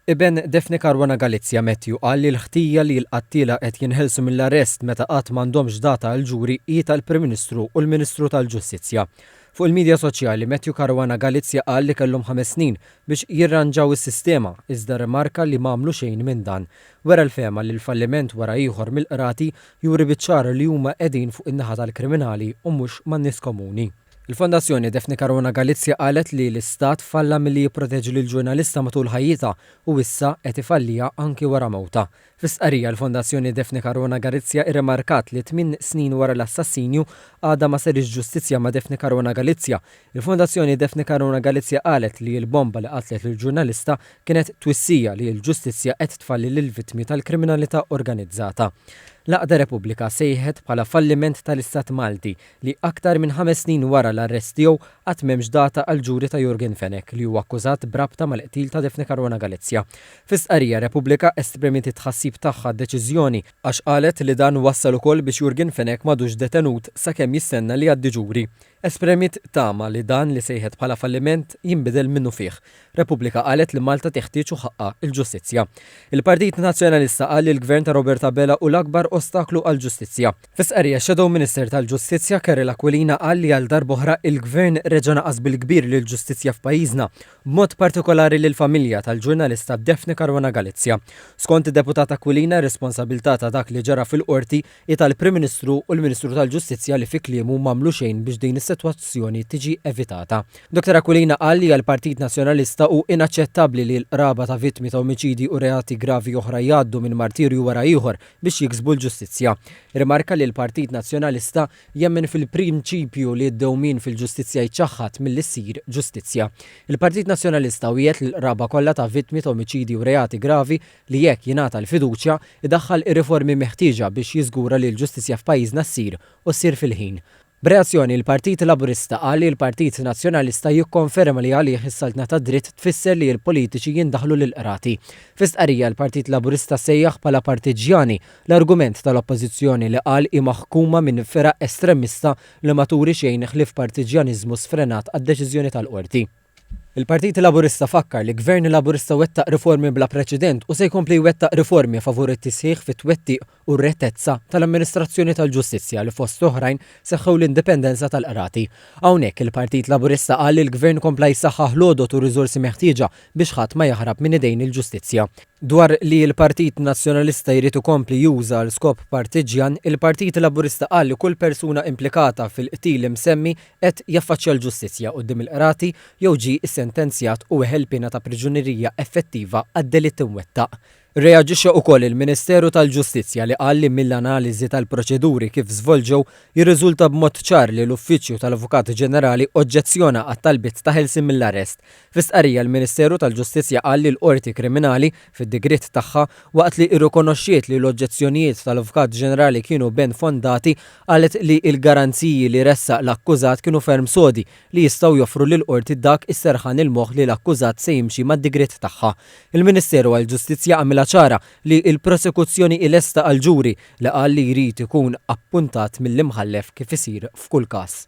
Iben Daphne Caruana Galizia, Matthew, qal li l-ħtija li l-qattiela qed jinħelsu mill-arrest meta qatt m'għandhomx data għall-ġuri hi tal-Prim Ministru u l-Ministru tal-Ġustizzja. Fuq il-midja soċjali, Matthew Caruana Galizia qal li kellhom ħames snin biex jirranġaw is-sistema, iżda rrimarka li m'għamlu xejn minn dan. Wera l-fehma li l-falliment wara ieħor mill-Qrati juri biċ-ċar li huma qegħdin fuq in-naħa tal-kriminali u mhux man-nies komuni. Il-Fondazzjoni Daphne Caruana Galizia qalet li l-istat falla milli jipproteġi lill-ġurnalista matul ħajjitha u issa qed ifalliha anki wara mewtha. Fi stqarrija l-Fondazzjoni Daphne Caruana Galizia irrimarkat li tmien snin wara l-assassinju għadha ma sariex ġustizzja ma' Daphne Caruana Galizia. Il-Fondazzjoni Daphne Caruana Galizia qalet li l-bomba li qatlet lill-ġurnalista kienet twissija li l-ġustizzja qed tfalli lill-vittmi tal-kriminalità organizzata. L-għaqda Repubblika sejħet bħala falliment tal-istat Malti li aktar minn ħames snin wara l-arrest tiegħu għad m'hemmx data għall-ġuri ta' Yorgen Fenech li huwa akkużat b'rabta mal-qtil ta' Daphne Caruana Galizia. Fi stqarrija Repubblika esprimiet it-tħassib tagħha għad-deċiżjoni, għax qalet li dan wassal ukoll biex Yorgen Fenech m'għadux detenut sakemm jistenna li jgħaddi ġuri. Espremiet tama li dan li sejħet bħala falliment jinbidel minnufih, Repubblika qalet li Malta teħtieġ u ħaqqha l-ġustizzja. Il-Partit Nazzjonalista qal li l-Gvern ta' Robert Abela hu l-akbar ostaklu għall-ġustizzja. Fi stqarrija x-Shadow Minister tal-Ġustizzja Carol Aquilina qal li għal darb'oħra il-Gvern reġa' naqas bil-kbir lill-ġustizzja f'pajjiżna, b'mod partikolari lill-familja tal-ġurnalista Daphne Caruana Galizia. Skont id-Deputat Aquilina r-responsabilità ta' dak li ġara fil-Qorti Hi tal-Prim Ministru u l-Ministru tal-Ġustizzja li fi kliemu m'għamlu xejn biex din is-sitwazzjoni tiġi evitata. Dottor Aquilina qal li għall-Partit Nazzjonalista hu inaċċettabbli li l-qraba ta' vittmi ta' omiċidji u reati gravi oħra jgħaddu minn martirju wara ieħor biex jiksbu l-ġustizzja. Rimarka li l-Partit Nazzjonalista jemmen fil-prinċipju li d-dewmien fil-ġustizzja jiċċaħħad milli ssir ġustizzja. Il-Partit Nazzjonalista wiegħed lill-qraba kollha ta' vittmi ta' omiċidji u reati gravi li jekk jingħata l-fiduċja, idaħħal ir-riformi meħtieġa biex jiżgura li l-ġustizzja f'pajjiżna ssir, u ssir fil-ħin. B'reazzjoni, il-Partit Laburista qal li l-Partit Nazzjonalista jikkonferma li għalih is-saltna tad-dritt tfisser li l-politiċi jindaħlu lill-qrati. Fi stqarrija, l-Partit Laburista sejjaħ bħala partiġġjani l-argument tal-Oppożizzjoni li qal hi maħkuma minn firaq estremista li ma turi xejn ħlief partiġġjaniżmu sfrenat għad-deċiżjoni tal-Qorti. Il-Partit Laburista fakkar li Gvern Laburista wettaq riformi bla preċedent u se jkompli jwettaq riformi favur it-tisħiħ fit-twettiq u r-rettezza tal-amministrazzjoni tal-ġustizzja li fost l-oħrajn seħħew l-indipendenza tal-Qrati. Hawnhekk il-Partit Laburista qal li l-Gvern kompla jsaħħaħ l-għodod u r-riżorsi meħtieġa biex ħadd ma jaħrab minn idejn il-ġustizzja. Dwar li l-Partit Nazzjonalista jrid ikompli juża għal skop partiġġjan, il-Partit Laburista qal li kull persuna implikata fil-qtil imsemmi qed jaffaċċja l-ġustizzja quddiem il-qrati jew ġie ssentenzjat u weħel piena ta' priġunerija effettiva għad-delitt imwettaq. Irreaġixxa wkoll il-Ministeru tal-Ġustizzja li qal li mill-analiżi tal-proċeduri kif żvolġew jirriżulta b'mod ċar li l-Uffiċċju tal-Avukat Ġenerali oġġezzjona għat-talbiet ta' ħelsien mill-arrest Fi stqarrija l-Ministeru tal-Ġustizzja qal li l-Qorti Kriminali, fid-digriet tagħha, waqt li rrikonoxxiet li l-oġġezzjonijiet tal-Avukat Ġenerali kienu ben fondati, qalet li l-garanziji li ressaq l-akkużat kienu ferm sodi li jistgħu joffru lill-Qorti dak is-serħan il-moħħ li l-akkużat se jimxi mad-digriet tagħha. Il-Ministeru għall-Ġustizzja għamilha ċara li l-Prosekuzzjoni hi lesta għall-ġuri li qal li jrid ikun appuntat mill-Imħallef kif isir f'kull każ.